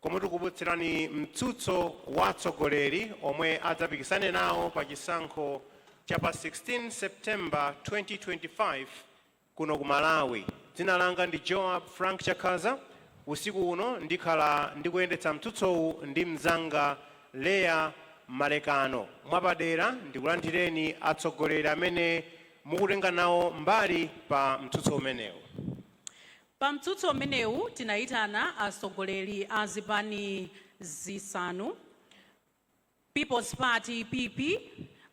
Komwe tikukupatsirani mtsutso wa atsogoleri omwe adzapikisane nawo pa chisankho cha pa 16 September 2025 kuno ku Malawi. Dzina langa ndi Joab Frank Chakhaza. Usiku uno ndikhala ndikuyendetsa mtsutsowu ndi mnzanga Leah Malekano. Mwapadera ndikulandireni atsogoleri amene mukutenga nawo mbali pa mtsutso umenewu. Pa mtsutso umenewu tinayitana atsogoleri a zipani zisanu, People's Party, PP,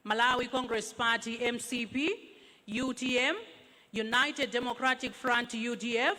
Malawi Congress Party, mcp, utm, United Democratic Front, udf,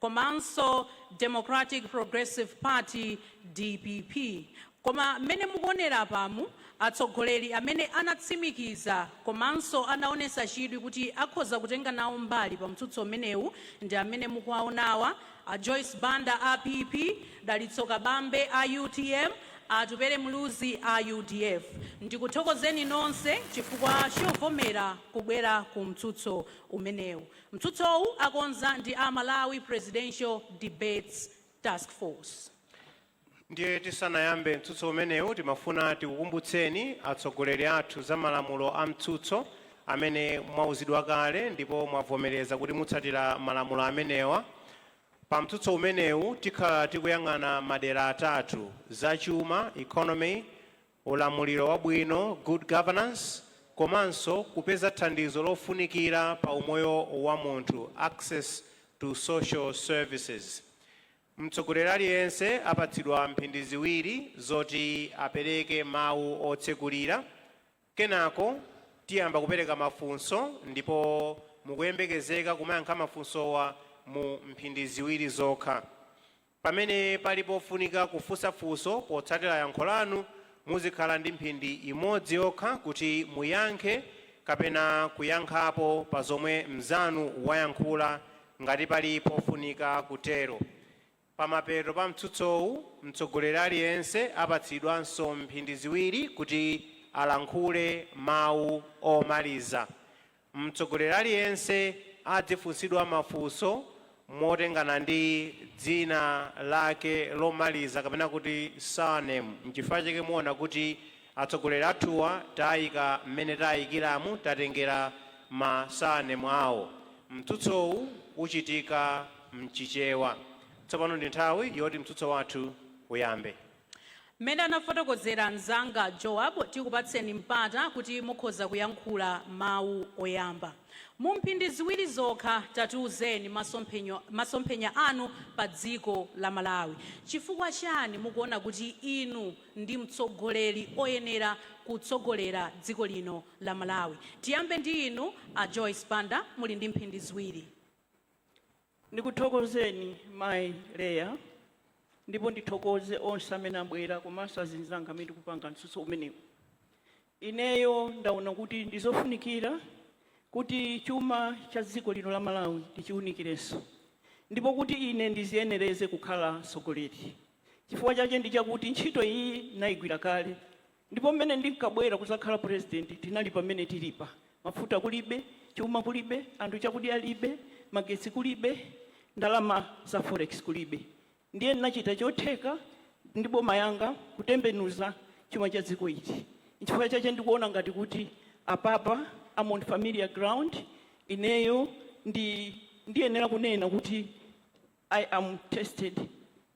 komanso Democratic Progressive Party, dpp, koma mmene mukuonera apamu, Atsogoleri amene anatsimikiza komanso anaonetsa chidwi kuti akhoza kutenga nawo mbali pa mtsutso umenewu ndi amene mukuwaonawa, a Joyce Banda a PP, Dalitso Kabambe a utm, a Atupele Muluzi a udf. Ndikuthokozeni nonse chifukwa chovomera kubwera ku mtsutso umenewu. Mtsutsowu akonza ndi a Malawi Presidential Debates Taskforce. Ndiye tisanayambe mtsutso umenewu timafuna tikukumbutseni atsogoleri athu za malamulo a mtsutso amene mwauzidwa kale ndipo mwavomereza kuti mutsatira malamulo amenewa. Pa mtsutso umenewu tikhala tikuyang'ana madera atatu, za chuma, economy, ulamuliro wabwino, good governance, komanso kupeza thandizo lofunikira pa umoyo wa munthu, access to social services. Mtsogoleri aliyense apatsidwa mphindi ziwiri zoti apereke mawu otsekulira, kenako tiyamba kupereka mafunso ndipo mukuyembekezeka kumayankha mafunsowa mu mphindi ziwiri zokha. Pamene pali pofunika kufunsa funso potsatira yankho lanu, muzikhala ndi mphindi imodzi yokha kuti muyankhe kapena kuyankhapo pa zomwe mnzanu wayankhula Ngati pali pofunika kutero, pamapeto pa mtsutsowu mtsogoleri aliyense apatsidwanso mphindi ziwiri kuti alankhule mawu omaliza. Mtsogoleri aliyense adzifunsidwa mafunso motengana ndi dzina lake lomaliza kapena kuti surname. Nchifukwa chake muona kuti Atsogoleri athuwa taika mmene taikiramu tatengera ma surname awo. Mtsutsowu uchitika mchichewa. Tsopano ndi nthawi yoti mtsutso wathu uyambe. Mmene anafotokozera mzanga Joab, tikupatseni mpata kuti mukhoza kuyankhula mawu oyamba. Mu mphindi ziwiri zokha tatiuzeni masomphenya anu pa dziko la Malawi. Chifukwa chani mukuona kuti inu ndi mtsogoleri oyenera kutsogolera dziko lino la Malawi. Tiyambe ndi inu a Joyce Banda muli ndi mphindi ziwiri. Ndikuthokozeni mai Leah ndipo ndithokoze onse amene abwera komanso azinzanga amene tikupanga mtsutso umenewu. Ineyo ndaona kuti ndi zofunikira kuti chuma cha dziko lino la Malawi tichiunikirenso ndipo kuti ine ndiziyenereze kukhala mtsogoleri chifukwa chake ndi chakuti ntchito iyi ndinayigwira kale ndipo m'mene ndinkabwera kudzakhala Purezidenti tinali pamene tilipa, mafuta kulibe, chuma kulibe, anthu chakudya alibe, magetsi kulibe, ndalama za forex kulibe. Ndiye ndinachita chotheka ndi boma yanga kutembenuza chuma cha dziko ili. Nchifukwa chache ndikuona ngati kuti apapa am on familiar ground, ineyo ndi ndiyenera kunena kuti I am tested,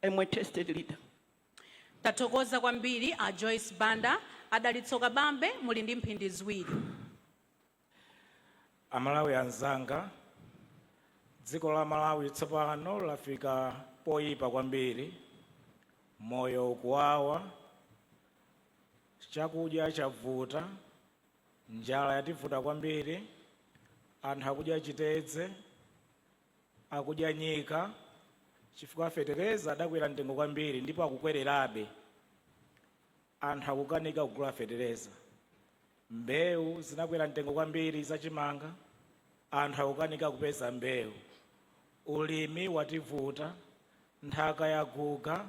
I am a tested leader. Tathokoza kwambiri a Joyce Banda. A Dalitso Kabambe muli ndi mphindi ziwiri. Amalawi anzanga, dziko la Malawi tsopano lafika poyipa kwambiri. Moyo ukuwawa, chakudya chavuta, njala yativuta kwambiri, anthu akudya chitedze, akudya nyika chifukwa fetereza adakwera mtengo kwambiri ndipo akukwererabe. Anthu akukanika kugula fetereza, mbewu zinakwera mtengo kwambiri, za chimanga anthu akukanika kupeza mbewu, ulimi wativuta, nthaka yaguga,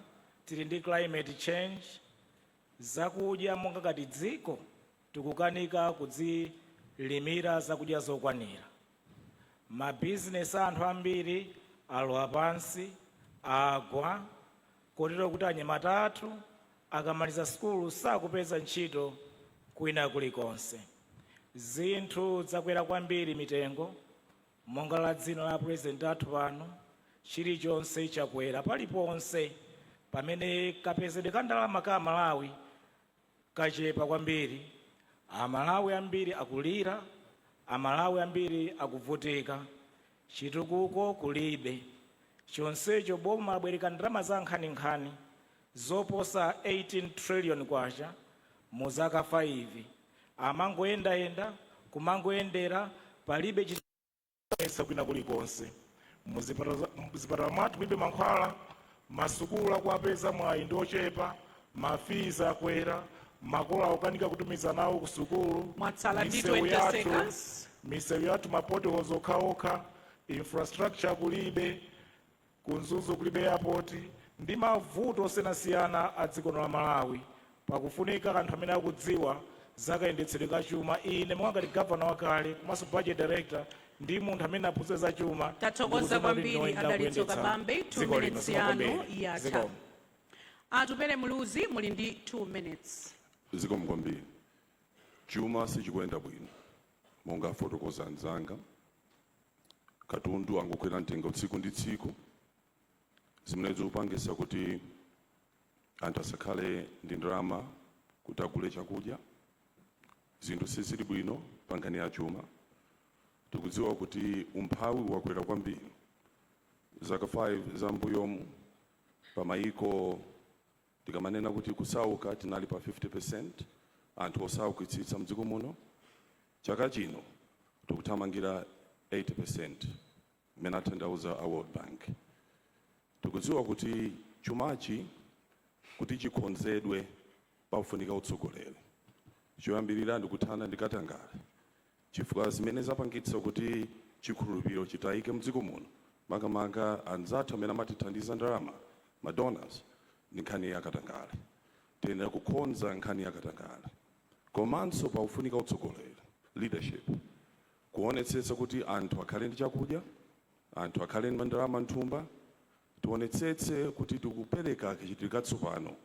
tili ndi climate change, zakudya monga ngati dziko tikukanika kudzilimira zakudya zokwanira, mabizinesi a anthu ambiri alowa pansi, agwa. kotero kuti anyamata athu akamaliza sukulu sakupeza ntchito kwina kulikonse. Zinthu zakwera kwambiri mitengo, monga la dzina la apresident athu pano, chilichonse chakwera paliponse pamene kapezedwe ka ndalama ka amalawi kachepa kwambiri, a Malawi ambiri akulira, a Malawi ambiri akuvutika, chitukuko kulibe, chonsecho boma labwereka ndalama zankhaninkhani zoposa K18 trillion mu zaka 5, amangoyendayenda, kumangoyendera, palibe chitukuko. kumayesa kwina kulikonse muzipatala mwathu mulibe mankhwala masukulu akuupeza mwayi ndi ochepa mafizi akwera makolo akukanika kutumiza ana awo ku sukulu Mwatsala ndi 20 seconds. misewu yathu ma potholes okhaokha infrastructure kulibe Ku Mzuzu kulibe airport ndi mavuto osiyanasiyana a dziko lino la Malawi. Pakufunika anthu amene akudziwa za kayendetsedwe ka chuma. Ine monga ngati governor wakale komanso budget director ndi munthu amene ndaphunzira za chuma ndikudziona kuti ndine woyenera kuyendetsa dziko lino. Zikomo kwambiri. Tathokoza kwambiri a Dalitso Kabambe 2 minutes yanu yatha. Zikomo. Atupele Muluzi muli ndi 2 minutes. Zikomo kwambiri. Chuma sichikuyenda bwino monga afotokoza anzanga. katundu angokwera mtengo tsiku ndi tsiku zimene zikupangisa kuti anthu asakhale ndi ndalama kuti agule chakudya zinthu sizili bwino pa nkhani ya chuma tikudziwa kuti umphawi wakwera kwambiri zaka 5 za mbuyomu pa mayiko tikamanena kuti kusauka tinali pa 50% anthu osaukitsitsa mdziko muno Chaka chino tikuthamangira 80% mmene atanthauza a World Bank. Tikudziwa kuti chumachi kuti chikhonzedwe pafunika utsogoleri. Choyambilira ndikuthana ndi katangale chifukwa zimene zapangitsa kuti chikhulupiliro chitaike mdziko muno makamaka anzathu amene amatithandiza ndalama, ma donors, ndi nkhani ya katangale. Tiyenera kukhonza nkhani ya katangale. Komanso pakufunika utsogoleri, leadership, kuonetsetsa kuti anthu akhale ndi chakudya, anthu akhale ndi ndalama m'nthumba, tionetsetse kuti tikupereka kachitidwe katsopano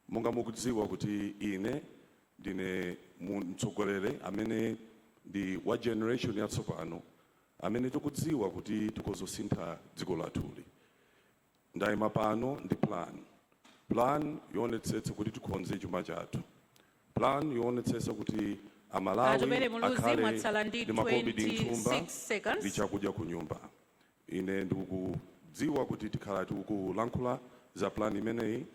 monga mukudziwa kuti ine ndine mtsogoleri amene ndi wa generation yatsopano amene tikudziwa kuti tikudzasintha dziko lathuli. Ndaima pano ndi plan. Plan yoonetsetsa kuti tikhonze chuma chathu. Plan yoonetsetsa kuti a Malawi Atupele Muluzi mwatsala ndi 26 seconds. akhale ndi makobidi m'thumba ndi chakudya kunyumba. Ine ndikudziwa kuti tikhala tikulankhula za plan imeneyi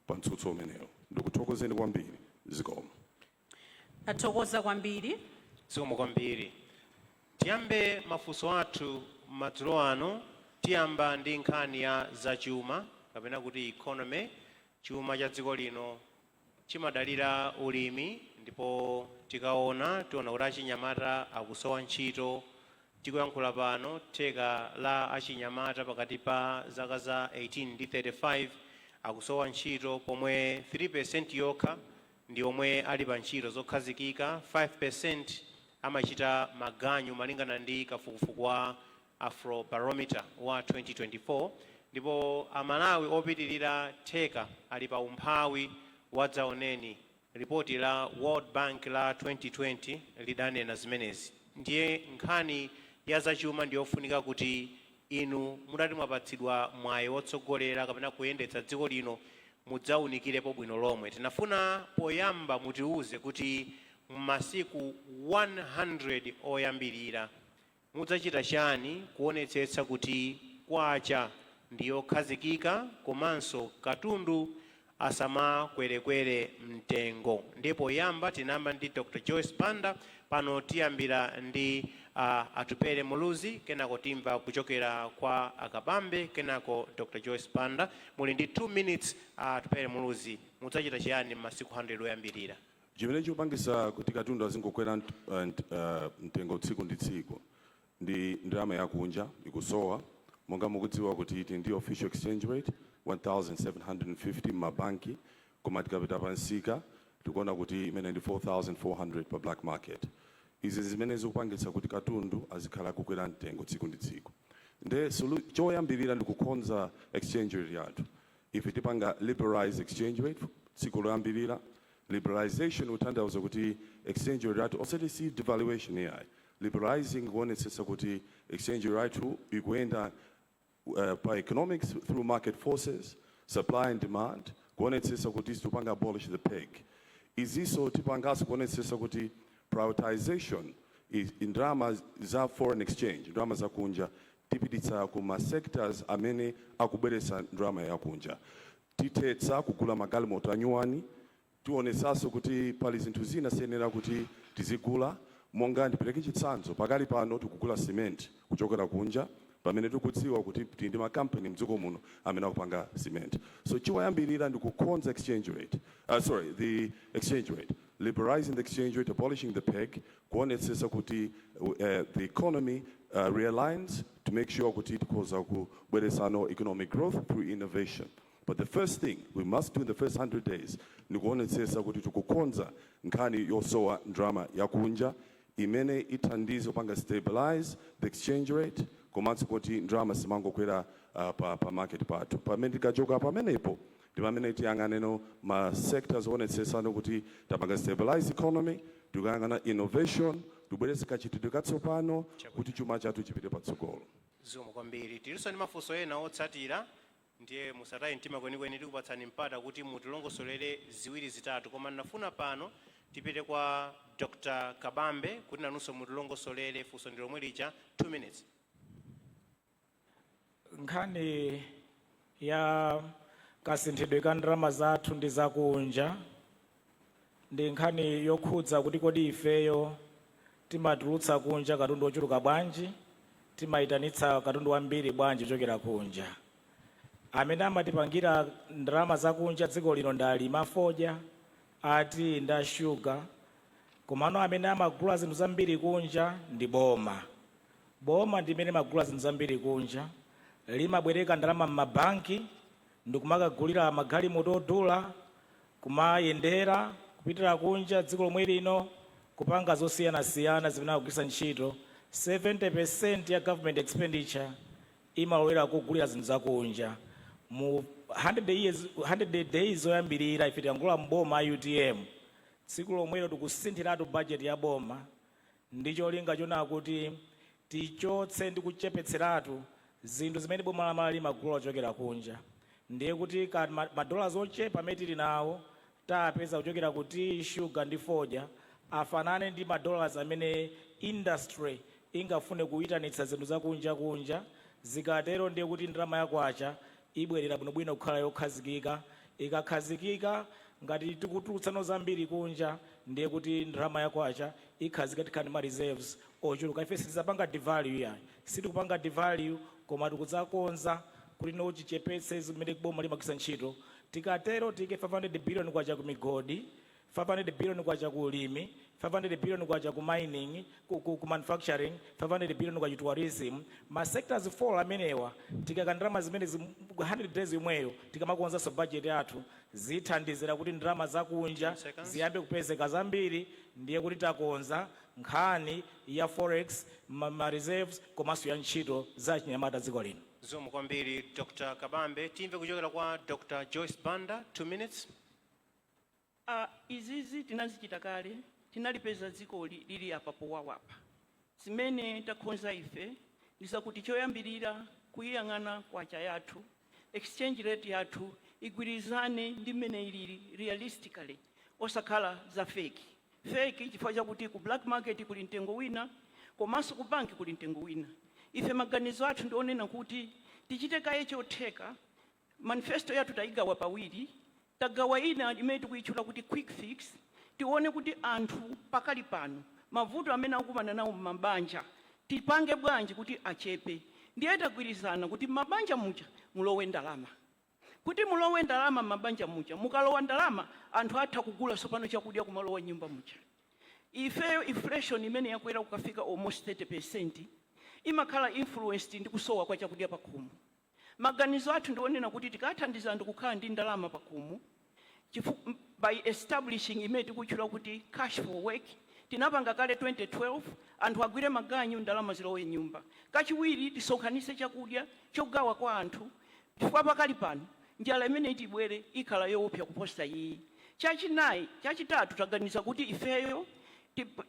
pa mtsutso umenewu. Ndikuthokozeni kwambiri. Zikomo. Tathokoza kwambiri. Zikomo kwambiri. Tiyambe mafunso athu madzulo ano. Tiyamba ndi nkhani ya za chuma kapena kuti economy. Chuma cha dziko lino chimadalira ulimi ndipo tikaona tiona kuti achinyamata akusowa ntchito. Tikuyankhula pano theka la achinyamata pakati pa zaka za 18 ndi 35 akusowa ntchito pomwe 3% yokha ndi omwe ali pa ntchito zokhazikika, 5% amachita maganyu malingana ndi kafukufuku wa Afrobarometer wa 2024, ndipo Amalawi opitilira theka ali pa umphawi wadzaoneni, ripoti la World Bank la 2020 lidanena zimenezi, ndiye nkhani ya zachuma ndiyofunika kuti Inu mutati mwapatsidwa mwayi wotsogolera kapena kuyendetsa dziko lino mudzaunikirepo bwino lomwe. Tinafuna poyamba mutiuze kuti m'masiku 100 oyambirira mudzachita chani kuonetsetsa kuti Kwacha ndi yokhazikika komanso katundu asamakwerekwere mtengo ndiye poyamba tinayamba ndi Dr Joyce Banda pano tiyambira ndi a Atupele Muluzi kenako timva kuchokera kwa a Kabambe kenako Dr Joyce Banda muli ndi 2 minutes a Atupele Muluzi mudzachita chiyani m'masiku 100 oyambirira? Chimene chikupangitsa kuti katundu azingokwera mtengo tsiku ndi tsiku ndi ndalama yakunja ikusowa monga mukudziwa kuti tili ndi official exchange rate 1750 mma banki koma tikapita pa msika tikuona kuti imene ndi 4400 pa black market izi zimene zikupangitsa kuti katundu azikhala akukwera mtengo tsiku ndi tsiku nde solu- choyambirira ndi kukonza exchange rate yathu ife tipanga liberalize exchange rate tsiku loyambirira liberalization kutanthauza kuti exchange rate yathu osati si devaluation yayi liberalizing kuonetsetsa kuti exchange rate ikuyenda pa economics through market forces, supply and demand, kuonetsetsa kuti tipanga abolish the peg. Izinso tipanganso kuonetsetsa kuti prioritisation ndalama za foreign exchange, ndalama zakunja, tipititsa ku ma sectors amene akubweretsa ndalama yakunja. Tithetsa kugula magalimoto anyuwani. Tionetsanso kuti pali zinthu zina siyenera kuti tizigula monga ndipereke chitsanzo, pakali pano tikugula cement kuchokera kunja pamene tikudziwa kuti tili ndi ma company mdziko muno amene akupanga cement. So choyambirira ndi kukhonza exchange rate, sorry the exchange rate, liberalising the exchange rate, abolishing the peg, kuonetsetsa kuti the economy realigns to make sure kuti tikhoza kubweretsano economic growth through innovation. But the first thing we must do in the first 100 days ni kuonetsetsa kuti tikukonza nkhani yosowa ndalama yakunja imene ithandize kupanga stabilize the exchange rate komanso kuti ndalama simangokwera uh, pa, pa market pathu pamene tikachoka pamenepo ndi pamene tiyang'anenso ma sectors oonetsetsanso kuti tapanga stabilize economy tikuyang'ana innovation tibweretse kachitidwe katsopano kuti chuma chathu chipite patsogolo Zikomo kwambiri tilinso ndi mafunso ena otsatira Ndiye musataye mtima kwenikweni tikupatsani mpata kuti mutilongosolere ziwiri zitatu koma ndinafuna pano tipite kwa Dr Kabambe kuti inunso mutilongosolere funso ndi lomwe lija 2 minutes. Nkhani ya kasinthidwe ka ndalama zathu ndi zakunja ndi nkhani yokhudza kuti kodi ifeyo timatulutsa kunja katundu wochuluka bwanji, timaitanitsa katundu wambiri bwanji kuchokera kunja. Amene amatipangira ndalama zakunja dziko lino ndi alimi a fodya, a tiyi ndi a shuga. Komano amene amagula zinthu zambiri kunja ndi boma. Boma ndi limene limagula zinthu zambiri kunja, limabwereka ndalama m'mabanki ndi kumakagulira magalimoto odula. kumayendera kupitira kunja dziko lomwe lino kupanga zosiyanasiyana zimene akugwiritsa ntchito, 70% ya government expenditure imalowera kugulira zinthu za kunja. Mu 100 days oyambirira ife tikangolowa m'boma a UTM, tsiku lomwelo tikusinthiratu budget ya boma ndi cholinga chonaa kuti tichotse ndi kuchepetseratu zinthu zimene boma la Malawi limagula kuchokera kunja ndiye kuti ma dollars ochepa amene tili nawo tapeza kuchokera ku tea, sugar ndi fodya afanane ndi ma dollars amene industry ingafune kuitanitsa zinthu za kunja kunja zikatero ndiye kuti ndalama ya kwacha ibwerera bwinobwino kukhala yokhazikika. Ikakhazikika, ngati tikutulutsanso zambiri kunja, ndiye kuti ndalama ya kwacha ikhazikika tikhala ndi ma reserves ochuluka. Ife sitidzapanga devalue iyayi. Sitikupanga devalue koma tikudzakonza kuti tichepetse zimene boma limagwiritsa ntchito. Tikatero tiike K500 billion ku migodi. K500 billion ku ulimi, K500 billion ku mining, ku ku ku manufacturing, K500 billion ku tourism, ma sectors 4 amenewa tikaika ndalama zimenezi mu 100 days yomweyo tikamakonzanso budget yathu zithandizira kuti ndalama za kunja ziyambe kupezeka zambiri ndiye kuti takonza nkhani ya forex, ma ma reserves komanso ya ntchito za achinyamata dziko lino. Zikomo kwambiri Dr Kabambe. Timve kuchokera kwa Dr Joyce Banda, 2 minutes. A, Izizi tinazichita kale, tinalipeza dzikoli lili apa powawapa. Zimene takonza ife ndi zakuti choyambirira kuyiyang'ana kwacha yathu, exchange rate yathu igwirizane ndi mmene ilili realistically osakhala za fake, fake chifukwa chakuti ku black market kuli mtengo wina komanso ku bank kuli mtengo wina. Ife maganizo athu ndi onena kuti tichite kaye chotheka Manifesto yathu tayigawa pawiri, tagawa ina imene tikuyitchula kuti Quick Fix, tione kuti anthu pakali pano mavuto amene akukumana nawo m'mabanja tipange bwanji kuti achepe. Ndiye tagwirizana kuti m'mabanja muja mulowe ndalama. Kuti mulowe ndalama m'mabanja muja, mukalowa ndalama anthu atha kugula tsopano chakudya kumalowa m'nyumba muja. Ifeyo inflation imene yakwera kukafika almost 30% imakhala influenced ndi kusowa kwa chakudya pakhomo. Maganizo athu ndi onena kuti tikathandiza anthu kukhala ndi ndalama pakhomo by establishing imene tikutchula kuti Cash for Work tinapanga kale 2012 anthu agwire maganyu ndalama zilowe m'nyumba. Kachiwiri tisonkhanitse chakudya chogawa kwa anthu chifukwa pakali pano njala imene iti ibwere ikhala yoopsa kuposa iyi. Chachinayi chachitatu taganiza kuti ifeyo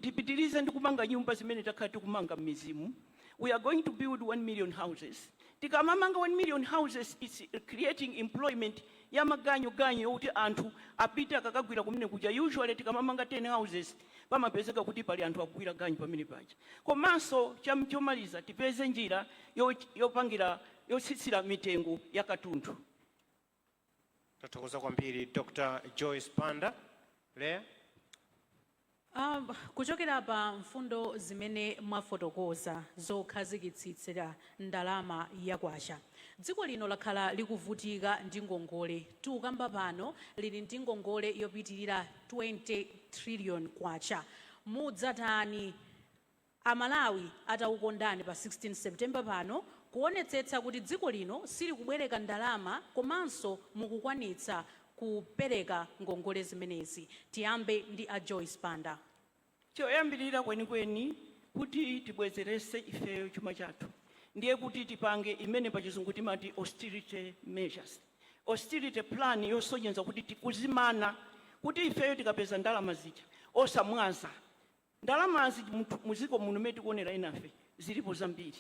tipitirize ndi kumanga nyumba zimene takhala tikumanga m'midzimu. we are going to build 1 million houses tikamamanga 1 million houses it's creating employment ya maganyu ganyu yokuti anthu apite akakagwira kumene kuja usually tikamamanga 10 houses pamapezeka kuti pali anthu akugwira ganyu pamene paja komanso cham- chomaliza tipeze njira yo- yopangira yotsitsira mitengo ya katundu Tathokoza kwambiri Dr Joyce Banda. Leah? Um, kuchokera pa mfundo zimene mwafotokoza zokhazikitsitsira ndalama ya kwacha, dziko lino lakhala likuvutika ndi ngongole. Tikukamba pano lili ndi ngongole yopitirira 20 trillion kwacha. Mudzatani? A Malawi atakukondani pa 16 September pano kuonetsetsa kuti dziko lino silikubwereka ndalama komanso mukukwanitsa kupereka ngongole zimenezi. Tiyambe ndi a Joyce Banda. Choyambirira kwenikweni kuti tibwezeretse ifeyo chuma chathu ndiye kuti tipange imene pachizungu timati austerity measures, austerity plan yosonyeza kuti tikudzimana kuti ifeyo tikapeza ndalama zija osamwaza Ndalamazi mu dziko muno mmene tikuonera enafe zilipo zambiri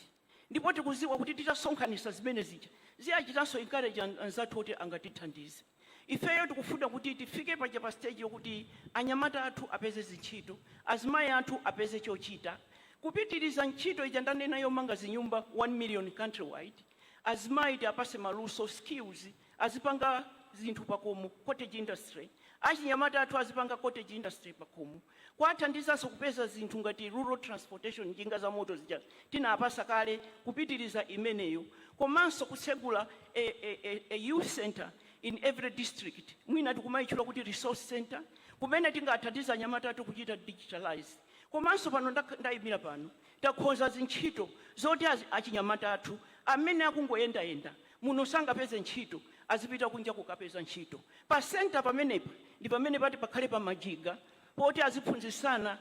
ndipo tikudziwa kuti titasonkhanitsa zimene zija ziachitanso encourage anzathu oti angatithandize. Ifeyo tikufuna kuti tifike paja pa stage yokuti anyamata athu apeze zintchito, azimayi athu apeze chochita kupitiriza ntchito ija ndanena yomanga zinyumba 1 million countrywide, azimayi tiapatse maluso, skills. azipanga zinthu pakomo, cottage industry, achinyamata athu azipanga cottage industry pakomo, kuathandizanso kupeza zinthu ngati rural transportation njinga zamoto zija tinaapasa kale kupitiliza imeneyo komanso kutsegula a a youth centre in every district mwina tikumaitchula kuti resource centre kumene tingaathandize anyamata athu kuchita digitalize komanso pano ndaimira pano takhonza zintchito zoti achinyamata athu amene akungoyendayenda muno sangapeze ntchito azipita kunja kukapeza ntchito. Pa centre pamenepa ndi pamene pati pakhale pa majiga poti aziphunzitsana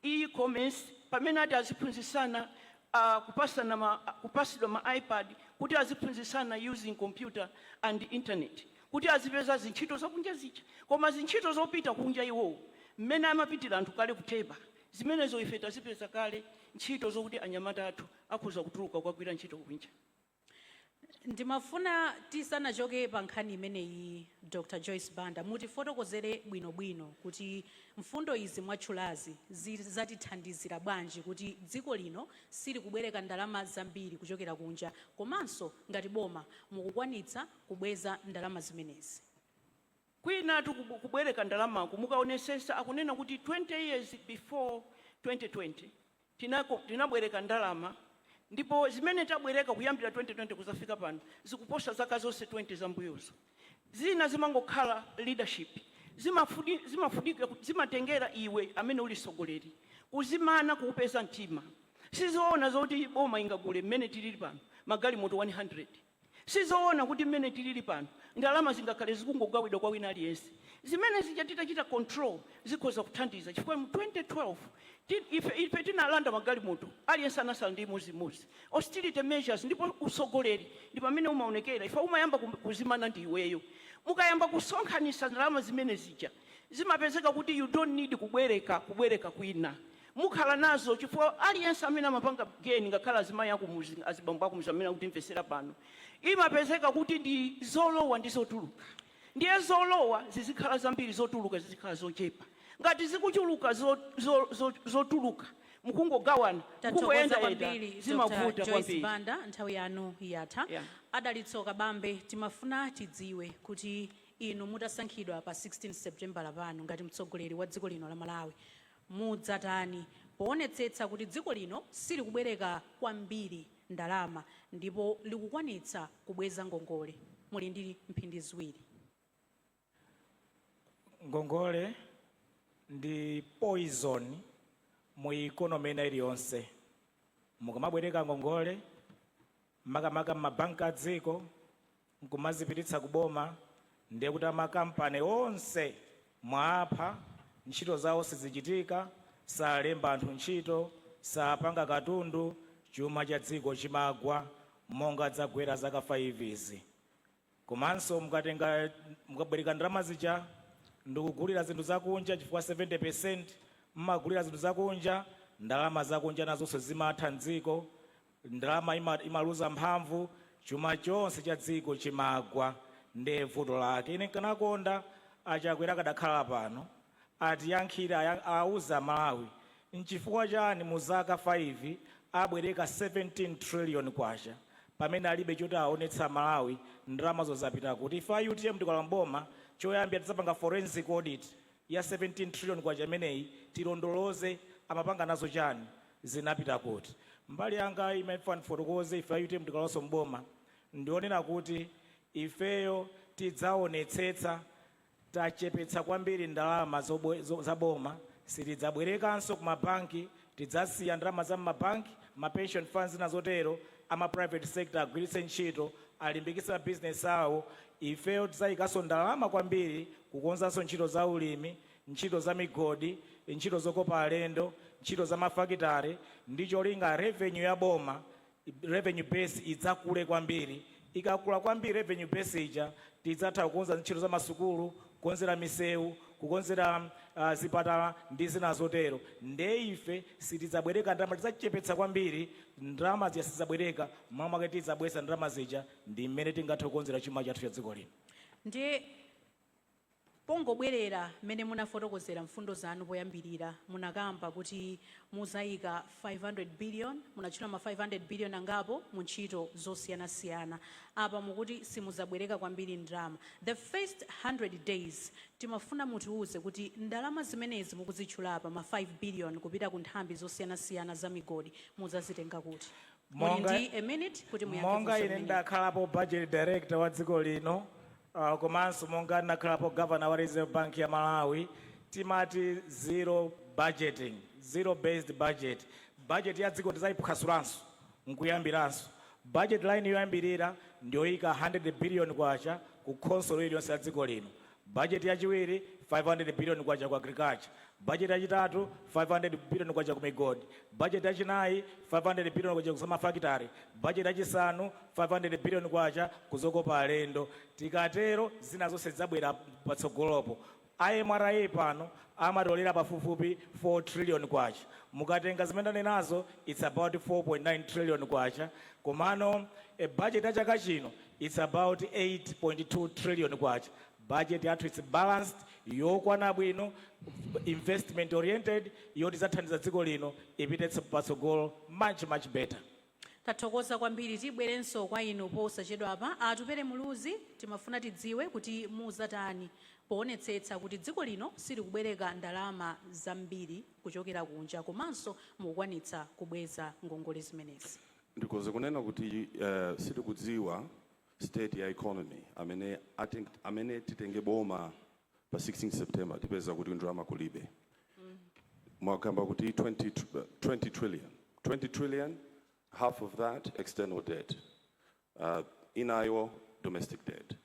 e-commerce pamene ati aziphunzitsana uh, kupasana ma, kupasidwa ma ipad kuti aziphunzitsana using computer and internet kuti azipeza zintchito zakunja zija koma zintchito zopita kunja iwowo mmene amapitira anthu kale ku Theba zimenezo ife tazipeza kale ntchito zokuti anyamata athu akhoza kutuluka kukagwira ntchito kunja. Ndimafuna tisanachoke pa nkhani imeneyi Dr Joyce Banda mutifotokozere bwinobwino kuti mfundo izi mwatchulazi zizatithandizira bwanji kuti dziko lino silikubwereka ndalama zambiri kuchokera kunja komanso ngati boma mukukwanitsa kubweza ndalama zimenezi. Kwinatu kubwereka ndalamaku mukaonesesa akunena kuti 20 years before 2020 tinabwereka ndalama ndipo zimene tabwereka kuyambira 2020 kudzafika pano zikuposa zaka zonse 20 zammbuyozo. Zina zimangokhala leadership, zimafunika, zimatengera iwe amene uli mtsogoleri kuzimana, kupeza mtima. Sizoona zoti boma ingagule mmene tilili pano magalimoto 100. Sizoona kuti mmene tilili pano, ndalama zingakhale zikungogawidwa kwa wina aliyense. Zimene zija titachita control zikhoza kuthandiza chifukwa mu 2012 ti ife ife tinalanda magalimoto, aliyense anasala ndi imodzi imodzi. Austerity measures ndipo utsogoleri ndi pamene umaonekera chifukwa umayamba ku kuzimana ndi iweyo. Mukayamba kusonkhanitsa ndalama zimene zija zimapezeka kuti you don't need kubwereka kubwereka kwina. mukhala nazo chifukwa aliyense amene amapanga geni ngakhale azimayi akumuzi azibambo akumuzi amene akutimvesera pano imapezeka kuti ndi zolowa ndi zotuluka ndiye zolowa zizikhala zambiri zotuluka zizikhala zochepa ngati zikuchuluka zo, zo, zo, zotuluka mukungogawana Tathokoza mukungoyendayenda kwambiri Dr. zimavuta Joyce kwambiri Banda nthawi yanu yatha. Yeah. A Dalitso Kabambe timafuna tidziwe kuti inu mutasankhidwa pa 16 September pano ngati mtsogoleri wa dziko lino la Malawi Mudzatani poonetsetsa kuti dziko lino silikubwereka kwambiri ndalama ndipo likukwanitsa kubweza ngongole? Muli ndi mphindi ziwiri. Ngongole ndi poison mu economy ina iliyonse. Mukamabwereka ngongole, makamaka m'mabanki a dziko, nkumazipititsa ku boma ndiye kuti ama company onse mwaapha, ntchito zawo sizichitika, salemba anthu ntchito, sapanga katundu, chuma cha dziko chimagwa monga zagwera zaka 5 izi. Komanso mukabwereka ndalama zija ndikugulira zinthu zakunja chifukwa 70% mmagulira zinthu zakunja, ndalama zakunja nazonso zimatha mdziko, Ndalama imaluza mphamvu, chuma chonse cha dziko chimagwa nde vuto lake. Ine nkanakonda a Chakwera akadakhala pano atiyankhire auze a Malawi nchifukwa chani mu zaka 5 abwereka 17 trillion kwacha pamene alibe choti aonetse a Malawi ndalamazo zapita kuti. Ife a utm tikalowa m'boma choyambira tidzapanga forensic audit ya 17 trillion kwacha imeneyi tilondoloze amapanga nazo chani zinapita kuti mbali yanga imene ndifuna ndifotokoze ife a utm tikalowaso m'boma ndikunena kuti ifeyo tidzaonetsetsa tachepetsa kwambiri ndalama zaboma sitidzabwerekanso kumabanki Tidzasiya ndalama za mma bank, ma pension funds ndi zina zotero, a ma private sector agwiritse ntchito, alimbikitse ma business awo, ifeyo tidzayikaso ndalama kwambiri kukonzanso ntchito za ulimi, ntchito za migodi, ntchito zokopa alendo, ntchito za ma fakitare, ndi cholinga revenue ya boma revenue base idzakule kwambiri, ikakula kwambiri revenue base ija tidzatha kukonza ntchito za masukulu, kukonzera misewu, kukonzera zipatala ndi zina zotero nde ife sitidzabwereka ndalama, tidzachepetsa kwambiri ndalama zija sitidzabwereka m'malo mwake tidzabweza ndalama zija ndi m'mene tingathe kukonzera chuma chathu cha dziko lino. Ndiye Pongobwerera mmene munafotokozera mfundo zanu poyambirira, munakamba kuti muzaika 500 billion, munatchula ma 500 billion angapo, mu ntchito zosiyanasiyana. Apa mukuti simuzabwereka kwambiri ndalama. The first 100 days timafuna mutiuze kuti ndalama zimenezi mukuzitchula apa ma 5 billion kupita ku nthambi zosiyanasiyana za migodi muzazitenga kuti? Muli ndi a minute kuti muyankhe funso limeneli. Monga ine ndakhalapo budget director wa dziko lino, Uh, komanso monga ndinakhalapo governor wa Reserve Bank ya Malawi timati zero budgeting, zero based budget. Budget ya dziko tizayiphwasulanso nkuyambiranso. Budget line yoyambirira ndiyoyika 100 billion kwacha ku khonsolo iliyonse ya dziko lino. Budget yachiwiri 500 billion kwacha ku agriculture. Bajeti yachitatu, K500 billion ku migodi, bajeti yachinayi, K500 billion ku zamafakitale, bajeti yachisanu, K500 billion ku zokopa alendo. Tikatero zina zonse zidzabwera patsogolopo. A MRA pano amatolera pafupifupi K4 trillion. Mukatenga zimene ndanenazo its about K4.9 trillion komano bajeti ya chaka chino its about K8.2 trillion. Budget yathu it's balanced, yokwana bwino, investment oriented, yoti idzathandize dziko lino lipite patsogolo much, much better. Tathokoza kwambiri, tibwerenso kwa inu posachedwapa. A Atupele Muluzi, timafuna tidziwe kuti muzatani poonetsetsa kuti dziko lino silikubwereka ndalama zambiri kuchokera kunja komanso mukukwanitsa kubweza ngongole zimenezi? Ndikhoza kunena kuti sitikudziwa. state ya economy amene ating, amene titenge boma pa 16 September tipeza kuti ndalama kulibe mukukamba kuti 20, tr- 20 trillion 20 trillion half of that external debt uh, inayo domestic debt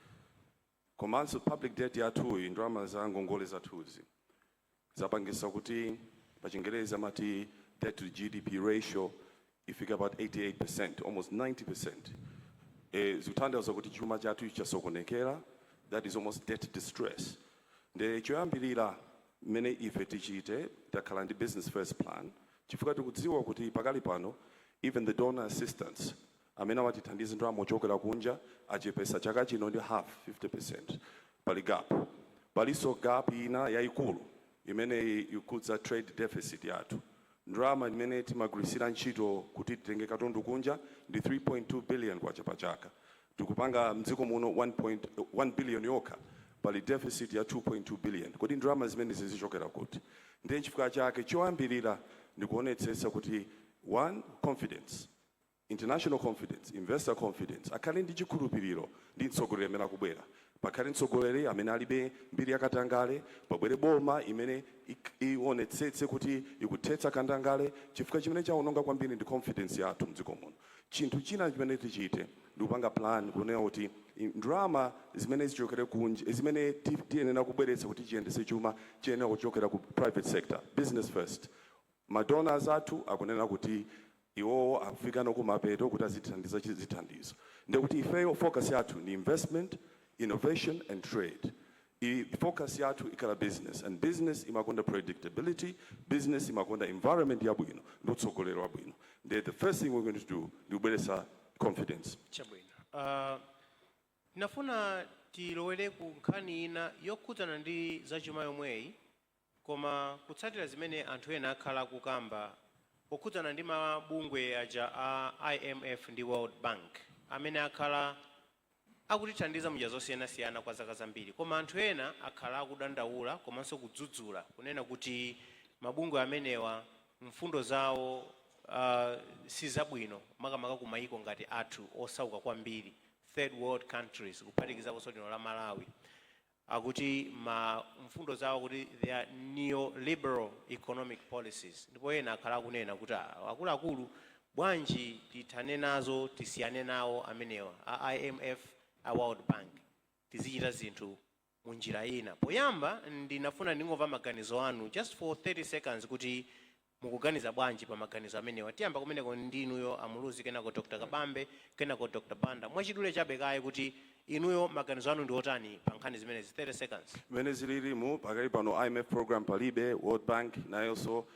Komanso public debt yathuyi, ndalama za ngongole zathuzi, zapangitsa kuti pa chingerezi amati debt to GDP ratio ifika about 88%, almost 90%. E, zikutanthauza kuti chuma chathu chasokonekera, that is almost debt distress. Nde choyambirira mmene ife tichite, takhala ndi business first plan chifukwa tikudziwa kuti pakali pano even the donor assistance Amene amatithandiza ndalama ochokera kunja achepetsa chaka chino ndi half, 50%. Pali gap. Palinso gap ina yaikulu imene ikhudza trade deficit yathu. Ndalama imene timagwiritsira ntchito kuti titenge katundu kunja ndi K3.2 billion pa chaka. Tikupanga mdziko muno 1 billion yokha. Pali deficit ya K2.2 billion. Kodi ndalama zimenezi zichokera kuti? Ndiye chifukwa chake choyambirira ndikuonetsetsa kuti 1 Confidence. International confidence, investor confidence, Akhale ndi chikhulupiriro ndi mtsogoleri amene akubwera, pakhale mtsogoleri amene alibe mbiri ya katangale, pabwere boma imene iwonetsetse kuti ikuthetsa katangale chifukwa chimene chawononga kwambiri ndi confidence yathu mdziko muno. Chinthu china chimene tichite ndikupanga plan kunena kuti ndalama zimene zichokere kunja, zimene tiyenera kubweretsa kuti tiyendetse chuma chiyenera kuchokera ku private sector, business first. Ma donors athu akunena kuti iwowo akufikano kumapeto kuti azitithandiza chi zithandizo ndiye kuti ifeyo focus yathu ndi investment, innovation and trade. Focus yathu ikhala business and business imakonda predictability, business imakonda environment yabwino ndi utsogoleri wabwino ndiye the first thing we going to do ndi kubweretsa confidence. Chabwino. Uh, nafuna tilowere ku nkhani ina yokhudzana ndi zachuma yomweyi Koma kutsatira zimene anthu ena akhala akukamba pokhudzana ndi ma bungwe aja a IMF ndi World Bank amene akhala akutithandiza munjira zosiyanasiyana kwa zaka zambiri koma anthu ena akhala akudandaula komanso kudzudzula kunena kuti mabungwe amenewa mfundo zawo sizabwino makamaka ku mayiko ngati athu osauka kwambiri, third world countries, kuphatikizaponso lino la Malawi. Akuti ma mfundo zawo akuti they are neoliberal economic policies ndipo ena akhala akunena kuti aah akuluakulu bwanji tithane nazo tisiyane nawo amenewa a imf a world bank tizichita zinthu mu njira ina. Poyamba ndinafuna ndingomva maganizo anu just for 30 seconds kuti Mukuganiza bwanji pa maganizo amenewa? Tiyamba kumeneko ndi inuyo a Muluzi kenako Dr Kabambe kenako Dr Banda. Mwachidule chabe kaye kuti inuyo maganizo anu ndi otani pa nkhani zimenezi 30 seconds. Mmene zililimu pakali pano IMF program palibe, World Bank nayonso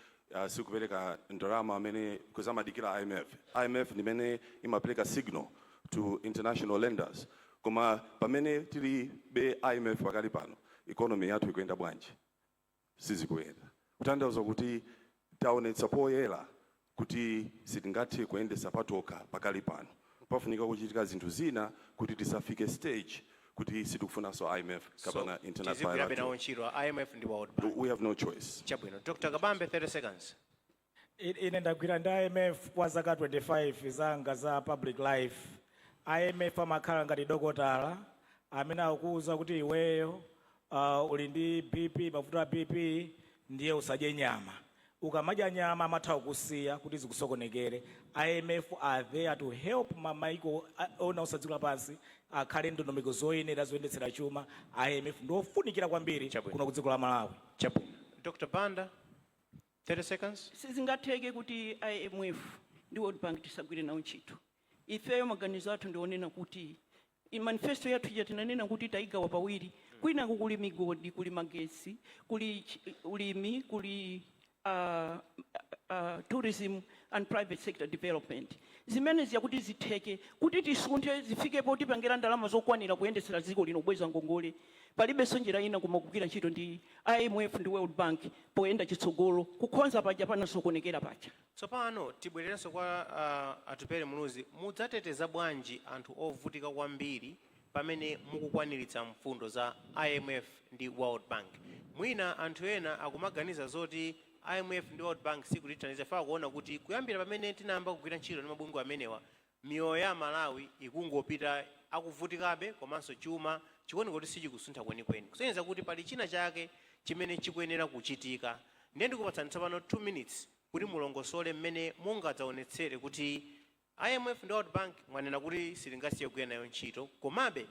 sikupereka ndalama amene coz amadikira IMF, IMF ndimene imapereka signal to international lenders koma pamene tilibe IMF pakali pano economy yathu ikuyenda bwanji? sizikuyenda. Kutanthauza kuti taonetsa poyera kuti sitingathe kuyendetsa patokha pakali pano. Pafunika kuchitika zinthu zina kuti tisafike stage kuti sitikufunanso IMF So, kapena international tizigwirabe nawo Bilateral. ntchito a IMF ndi World Bank. We have no choice. Chabwino. Dr. Kabambe, 30 seconds. Ine ndagwira ndi IMF kwa zaka 25 zanga za public life. IMF amakhala ngati dokotala amene akuuza kuti iweyo uh, uli ndi BP, mavuto a BP, ndiye usadye nyama. Ukamadya nyama amatha kukusiya kuti zikusokonekere. IMF are there to help ma maiko onse a dziko lapansi akhale ndondomeko zoyenera zoyendetsera chuma. IMF ndi ofunikira kwambiri Chabwino. kuno ku dziko la Malawi. Chabwino. Dr. Banda, 30 seconds. Sizingatheke kuti IMF ndi World Bank tisagwire nawo ntchito. Ifeyo maganizo athu ndi onena kuti manifesto yathu ija tinanena kuti tayigawa pawiri, kwinaku kuli migodi, kuli magetsi, kuli ulimi, kuli tourism and private sector development. Zimene zija kuti zitheke, kuti tisunthe zifike potipangira ndalama zokwanira kuyendetsera dziko lino, kubweza ngongole. Palibenso njira ina koma kugwira ntchito ndi IMF ndi World Bank poyenda chitsogolo, kukhonza paja panasokonekera paja. Tsopano tibwererenso kwa a Atupele Muluzi, mudzateteza bwanji anthu ovutika kwambiri pamene mukukwaniritsa mfundo za IMF ndi World Bank? Mwina anthu ena akumaganiza zoti IMF ndi World Bank sikutithandiza chifukwa akuona kuti kuyambira pamene tinayamba kugwira ntchito ndi mabungwe amenewa, Miyoyo ya Amalawi ikungopita akuvutikabe komanso chuma chikuoneka kuti sichikusuntha kwenikweni kusonyeza kuti pali china chake chimene chikuyenera kuchitika ndiye ndikupatsani tsopano 2 minutes kuti mulongosole mmene mungadzaonetsere kuti IMF ndi World Bank mwanena kuti sitingasiye kugwira nayo ntchito komabe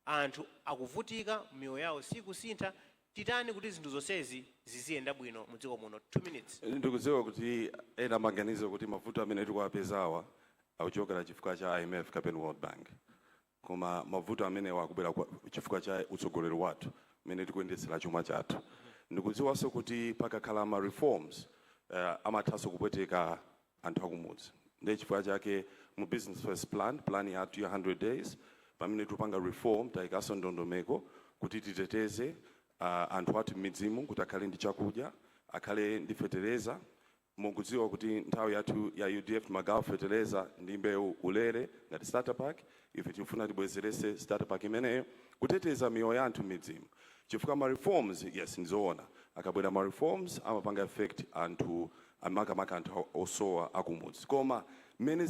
Anthu akuvutika, miyoyo yawo siikusintha, titani kuti zinthu zonsezi ziziyenda bwino mu dziko muno? 2 minutes. Ndikudziwa kuti ena amaganiza kuti mavuto amene tikuwapezawa akuchokera chifukwa cha IMF kapena World Bank. Koma mavuto amenewa akubwera chifukwa cha utsogoleri wathu, mmene tikuyendetsera chuma chathu. Ndikudziwanso kuti pakakhala ma reforms amathanso kupweteka anthu akumudzi. Ndiye chifukwa chake mu Business First Plan, pulani yathu ya 100 days, pamene tikupanga reform tayikanso ndondomeko kuti titeteze anthu athu m'midzimu kuti akhale ndi chakudya, akhale ndi fetereza. Mukudziwa kuti nthawi yathu ya udf timagawa fetereza ndi mbewu ulere ngati starter pack, ife tikufuna tibwezeretse starter pack imeneyo kuteteza miyoyo ya anthu m'midzimu chifukwa ma reforms, yes, ndi zoona akabwera ma reforms amapanga effect anthu, makamaka anthu osowa akumudzi koma mmene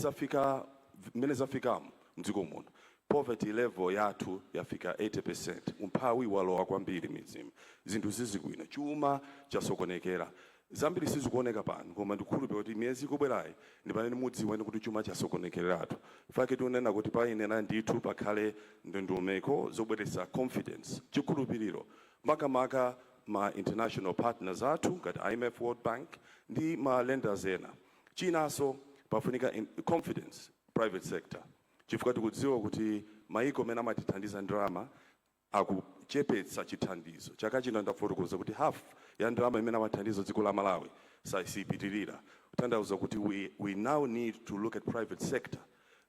zafikamu mdziko muno poverty level yathu yafika 80% umphawi walowa kwambiri m'midzimu zinthu sizili bwino chuma chasokonekera zambiri sizikuoneka pano koma ndikukhulupirira kuti miyezi ikubwerayi ndipamene mudziwe kuti chuma chasokonekereratu nchifukwa chake tikunena kuti payenera ndithu pakhale ndondomeko zobweretsa confidence chikhulupiriro makamaka ma international partners athu ngati imf, world bank ndi ma lenders ena. Chinaso pafunika confidence private sector chifukwa tikudziwa kuti maiko amene amatithandiza ndalama akuchepetsa chithandizo. Chaka chino ndafotokoza kuti half ya ndalama imene amathandiza dziko la Malawi sipitilira kutanthauza kuti we now need to look at private sector.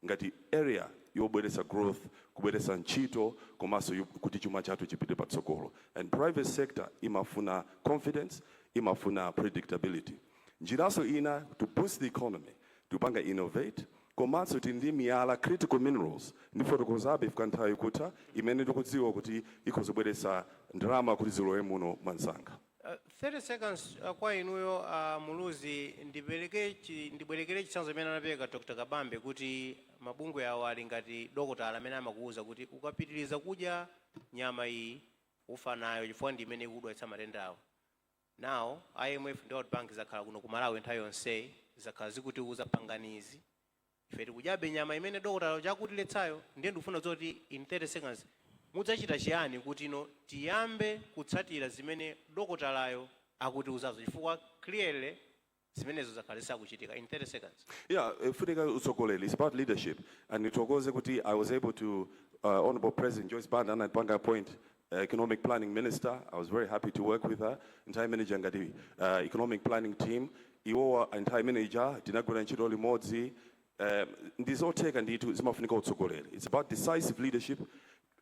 ngati area yobweretsa growth, kubweretsa ntchito komanso kuti chuma chathu chipite patsogolo and private sector imafuna confidence, imafuna predictability. Njiranso ina to boost the economy tikupanga innovate komanso tili ndi miyala, critical minerals, ndifotokozabe chifukwa nthawi ikutha, imene tikudziwa kuti ikhoza kubweretsa ndalama kuti zilowe muno mwansanga. 30 seconds kwa inuyo a Muluzi ndibwerekere chitsanzo chimene anapereka Dr Kabambe kuti mabungwe awa ali ngati dokotala amene amakuuza kuti ukapitiliza kudya nyama iyi ufa nayo chifukwa ndi imene ikukudwaitsa matendawa now IMF ndi World Bank zakhala kuno ku Malawi nthawi yonseyi zakhala zikutiuza pangani izi Ife tikudyabe nyama imene dokotala uja akutiletsayo. Ndiye ndikufuna kudziwa kuti in 30 seconds mudzachita chiyani kuti no tiyambe kutsatira zimene dokotalayo akutiuzazo chifukwa clearly zimenezo zakhala zisakuchitika in 30 seconds. Yeah, ifunika utsogoleri, it's about leadership and nithokoze kuti I was able to uh, Honorable President Joyce Banda anatipanga appoint economic planning minister i was very happy to work with her nthawi imene ija ngati uh, economic planning team iwowa nthawi imene ija tinagwira ntchito limodzi um, ndi zotheka ndithu zimafunika utsogoleri it's about decisive leadership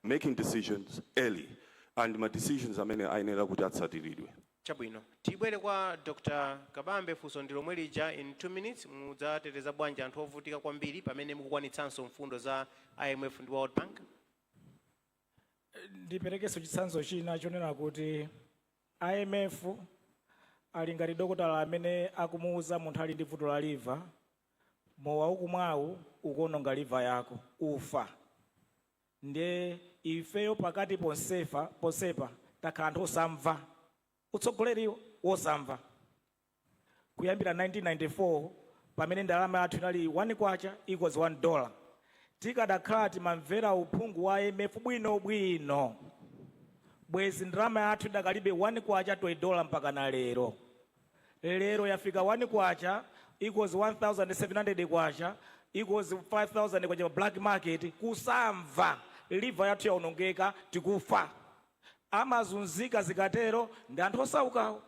making decisions early and ma decisions amene ayenera kuti atsatiridwe chabwino tibwere kwa dr kabambe funso ndi lomwe lija in 2 minutes mudzateteza bwanji anthu ovutika kwambiri pamene mukukwanitsanso mfundo za imf ndi world bank Ndiperekenso chitsanzo china chonena kuti IMF ali ngati dokotala amene akumuuza munthu ali ndi vuto la liva, Mowa ukumwawu ukuwononga liva yako. Ufa. Ndiye ifeyo pakati ponsepa takhala anthu osamva, utsogoleri wosamva. Kuyambira 1994 pamene ndalama yathu inali K1 equals 1 dollar, tikadakhala timamvera uphungu wa IMF bwino bwino, bwezi ndalama yathu idakalibe K1 to a dollar mpakana lero. Lero yafika K1 equals K1700 equals K5000 pa black market, kusamva, liver yathu yaonongeka, tikufa. Amazunzika zikatero ndi anthu osaukawo.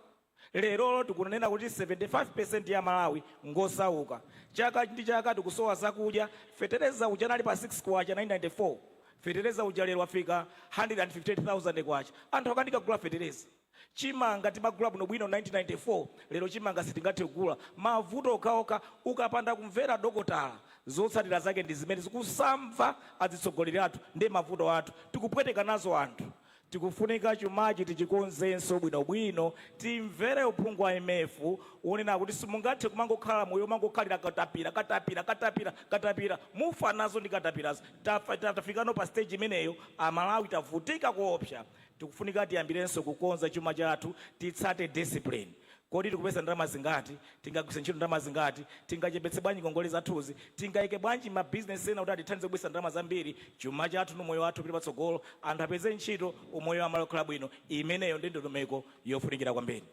Lerolo tikunena kuti 75% ya Amalawi ngosauka. Chaka ndi chaka tikusowa zakudya, fetereza uja anali pa K6 1994, fetereza uja lero wafika K158,000. Anthu akanika kugula fetereza. Chimanga timagula bwinobwino 1994, lero chimanga sitingathe kugula. Mavuto okhaokha, ukapanda kumvera dokotala zotsatira zake ndi zimenezi. Kusamva adzitsogoleri athu ndi mavuto athu, tikupweteka nazo anthu. Tikufunika chumachi tichikonzenso bwino bwino, timvere uphungu wa IMF wonena kuti simungathe kumangokhala moyo womangokhalira katapira, katapira, katapira, katapira, mufa nazo ndi katapirazo. Tafa, tafikano pa stage imeneyo, a Malawi tavutika koopsa. Tikufunika tiyambirenso kukonza chuma chathu, titsate discipline. Kodi tikupeza ndalama zingati? Tingagwiritse ntchito ndalama zingati? Tingachepetse bwanji ngongole zathuzi? Tingaike bwanji ma business ena kuti atithandize kubweretsa ndalama zambiri? Chuma chathu ndi umoyo wathu upite patsogolo, anthu apeze ntchito, umoyo wa amalawi ukhale bwino, imeneyo ndi ndondomeko yofunikira kwambiri.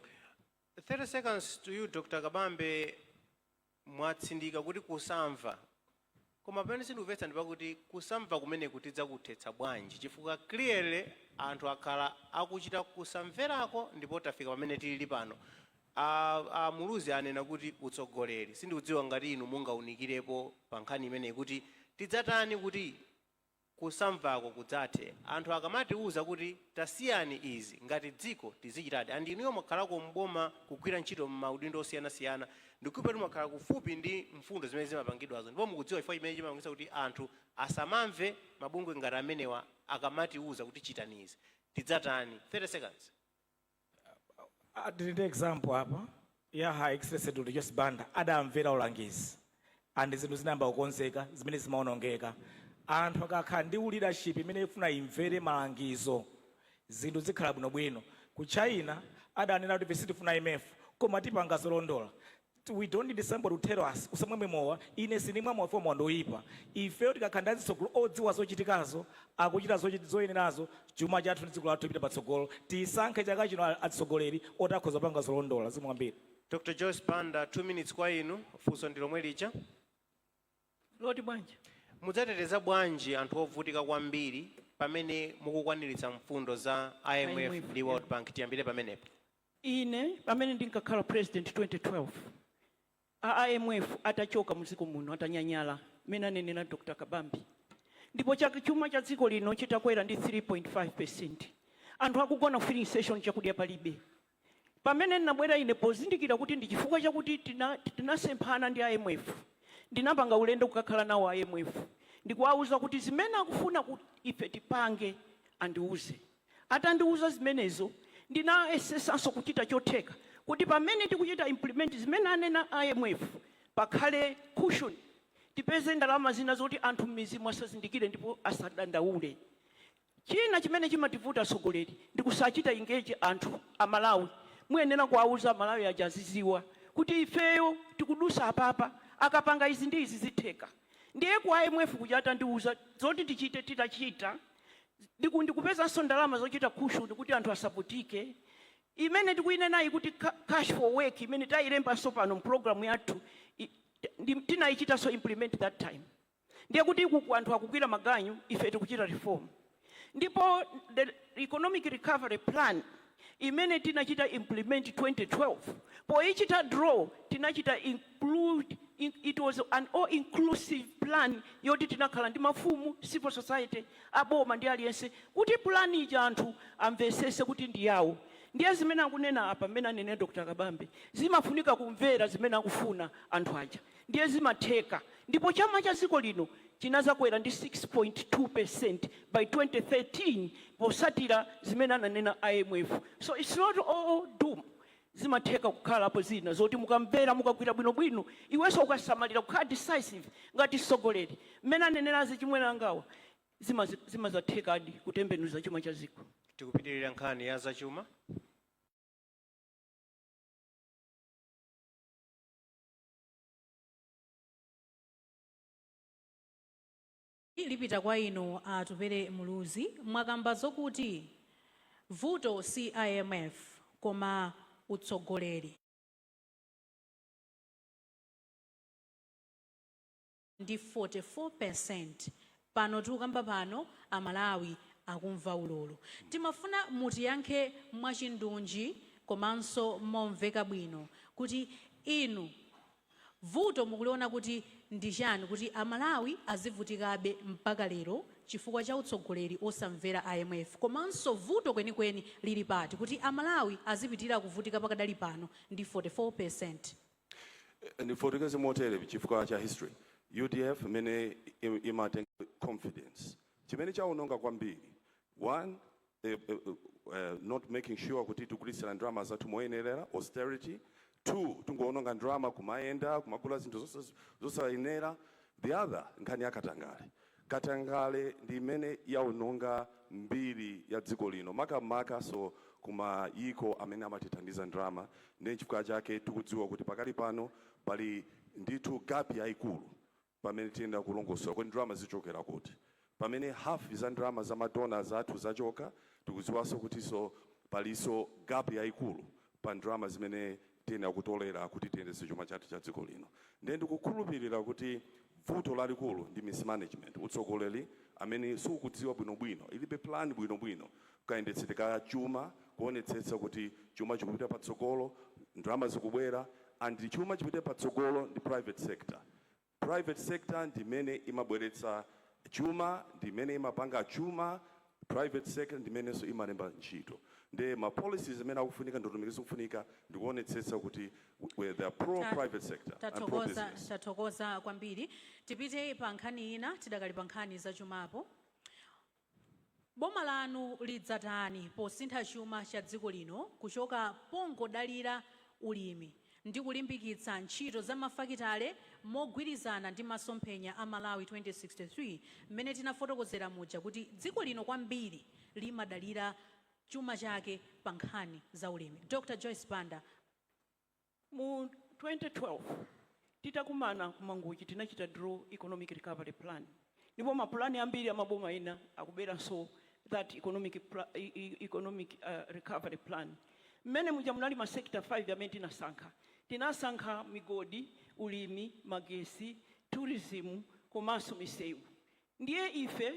30 seconds to you Dr Kabambe. mwatsindika kuti kusamva koma pamene sindikumvetsa ndi pakuti kusamva kumeneku tidzakuthetsa bwanji chifukwa clearly anthu akhala akuchita kusamverako ndipo tafika pamene tilili pano a a Muluzi anena kuti utsogoleri sindikudziwa ngati inu mungaunikirepo pa nkhani imeneyi kuti tidzatani kuti kusamvako kudzathe anthu akamatiuza kuti tasiyani izi ngati dziko tizichitadi and inuyo mwakhalako m'boma kugwira ntchito m'maudindo osiyanasiyana ndikukhulupirira kuti mwakhala kufupi ndi mfundo zimene zimapangidwazo ndipo mukudziwa chifukwa chimene chimapangitsa kuti anthu asamamve mabungwe ngati amenewa akamatiuza kuti chitani izi tidzatani 30 seconds. Ah, tili ndi example apa ya Her Excellency Dr. Joyce Banda adamvera ulangizi and zinthu zinayamba kukonzeka zimene zimaonongeka anthu akakhala ndi leadership imene ifuna imvere malangizo zinthu zikhala bwinobwino ku China adanena kuti ife sitifuna IMF koma tipanga zolondola We don't need somebody to tell us, usamamwe mowa, ine sindimwa mowa chifukwa mowa ndi oipa. Ifeyo tikakhala ndi azitsogolo odziwa zochitikazo, akuchita zochit zoyenerazo, chuma chathu ndi dziko lathu lipita patsogolo. Tisankhe chaka chino a atsogoleri oti akhoza kupanga zolondola. Zikomo kwambiri. Dr Joyce Banda, 2 minutes kwa inu. Funso ndi lomwe lija. Loti bwanji? Mudzateteza bwanji anthu ovutika kwambiri pamene mukukwaniritsa mfundo za IMF IMF, ndi yeah. World Bank? Tiyambire pamenepo. Ine pamene ndinkakhala president 2012 a IMF atachoka mudziko muno atanyanyala mmene anenera Dr Kabambe ndipo chuma cha dziko lino chitakwera ndi 3.5 percent anthu akugona ku filling station chakudya palibe pamene ndinabwera ine pozindikira kuti ndi chifukwa chakuti tinasemphana ndi IMF ndinapanga ulendo kukakhala nawo a IMF ndikuwauza kuti zimene akufuna kuti ife tipange andiuze Atandiuza zimenezo, ndinayesetsanso kuchita chotheka kuti pamene tikuchita implement zimene anena a IMF, pakhale cushion, tipeze ndalama zina zoti anthu m'midzimu asazindikire ndipo asadandaule. China chimene chimativuta atsogoleri ndi kusachita engage anthu, Amalawi. Muyenera kuwauza Amalawi aja azidziwa kuti ifeyo tikudutsa apapa, akapanga izi ndi izi zitheka. Ndiye ku IMF kuja atandiuza zoti tichite, titachita, Ndikupezanso ndalama zochita cushion kuti anthu asavutike. Imene tikuyinenayi kuti ca, Cash for Work, imene tayilembanso pano mu program yathu i, ndi, tinayichitanso implement that time. Ndiye kuti ukuku anthu akugwira maganyu, ife tikuchita reform. Ndipo the Economic Recovery Plan. imene tinachita implement 2012 poichita draw tinachita include it was an all inclusive plan yoti tinakhala ndi mafumu civil society aboma ndi aliyense kuti plan ija anthu amvesese kuti ndi yawo ndiye zimene akunena apa mmene anenera dr kabambe zimafunika kumvera zimene akufuna anthu aja Ndiye zimatheka. Ndipo chuma cha dziko lino chinazakwera ndi 6.2 percent by 2013 posatira zimene ananena IMF. So its not all doom. Zimatheka kukhalapo zina zoti mukamvera, mukagwira bwino bwino, iwenso ukasamalira, kukhala decisive ngati tsogoleri mmene anenera achimwene angawa, zimazathekadi kutembenuza chuma cha dziko. Tikupitirira nkhani ya za chuma. lipita kwa inu a Atupele Muluzi mwakamba zokuti vuto si imf koma utsogoleri. ndi 44 percent pano tikukamba pano amalawi akumva ululu timafuna mutiyankhe mwachindunji komanso momveka bwino kuti inu vuto mukuliona kuti ndi chani kuti amalawi azivutikabe mpaka lero chifukwa cha utsogoleri osamvera imf komanso vuto kwenikweni lili pati kuti amalawi azipitira kuvutika pakadali pano ndi 44 percent Ndifotokoze motere chifukwa cha history udf imene imatenga confidence chimene chaononga kwambiri one eh, eh, eh, not making sure kuti tikugwiritsira ndalama zathu moyenerera austerity two tingoononga ndalama kumayenda kumagula zinthu zosa- zosayenera the other nkhani yakatangale Katangale ndi imene yaononga mbiri ya dziko lino makamakanso ku mayiko amene amatithandiza ndalama ndiye nchifukwa chake tikudziwa kuti pakali pano pali ndithu gap yaikulu pamene tiyenera kulongosola kuti ndalama zichokera kuti pamene half za ndalama za ma donors athu zachoka tikudziwaso kutiso paliso gap yaikulu pa ndalama zimene tiyenera kutolera kuti tiyendetse chuma chathu cha dziko lino. Ndiye ndikukhulupirira kuti vuto lalikulu ndi mismanagement, utsogoleri amene sukudziwa bwinobwino, ilibe plan bwinobwino kayendetsedwe ka chuma, kuonetsetsa kuti chuma chikupita patsogolo, ndalama zikubwera and chuma chipite patsogolo ndi private sector. Private sector ndi imene imabweretsa chuma, ndi imene imapanga chuma, private sector ndi imenenso imalemba ntchito. Nde ma policies amene akufunika, ndondomeko zikufunika ndi kuonetsetsa kuti they are pro Ta- private sector and pro tathokoza business. tathokoza kwambiri tipite pa nkhani ina tidakali pa nkhani zachumapo Boma lanu lidzatani posintha chuma cha dziko lino kuchoka pongodalira ulimi ndi kulimbikitsa ntchito za mafakitale mogwirizana ndi masomphenya a Malawi 2063 mmene tinafotokozera muja kuti dziko lino kwambiri limadalira chuma chake pa nkhani za ulimi? Dr. Joyce Banda. Mu 2012 titakumana ku Mangochi tinachita draw economic recovery plan ndipo ma plan ambiri a maboma ena akuberanso that economic, economic uh, recovery plan mmene muja munali ma sector 5 amene tinasankha tinasankha migodi ulimi magesi tourism komanso misewu ndiye ife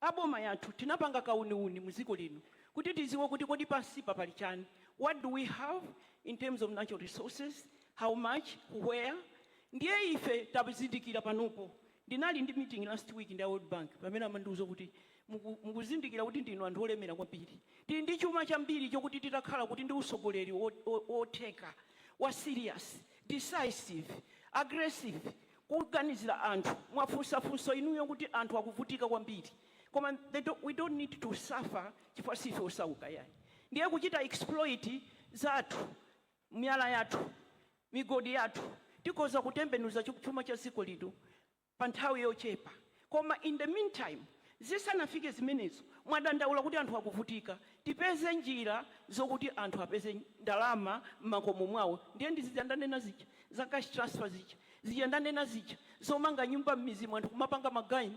a boma yathu tinapanga kauniuni mu dziko lino kuti tidziwe kuti kodi pansipa pali chani, what do we have in terms of natural resources, how much, where, ndiye ife tazindikira panopo ndinali ndi meeting last week ndi a world bank pamene amandiuza kuti muku mukuzindikira kuti ndinu anthu olemera kwambiri tili ndi chuma chambiri chokuti titakhala kuti ndi utsogoleri wotheka wa serious, decisive, aggressive, kuganizira anthu mwafunsa funso inuyo kuti anthu akuvutika kwambiri koma they don't we don't need to suffer chifukwa siife osauka yayi ndiye kuchita exploit zathu miyala yathu migodi yathu tikhoza kutembenuza chuma cha dziko lino pa nthawi yochepa Koma in the meantime zisanafike zimenezo mwadandaula kuti anthu akuvutika, tipeze njira zokuti anthu apeze ndalama mmakomo mwawo ndiye ndi zija ndanena zija za cash transfer zija, zija ndanena zija zomanga nyumba mmizimo anthu kumapanga maganyu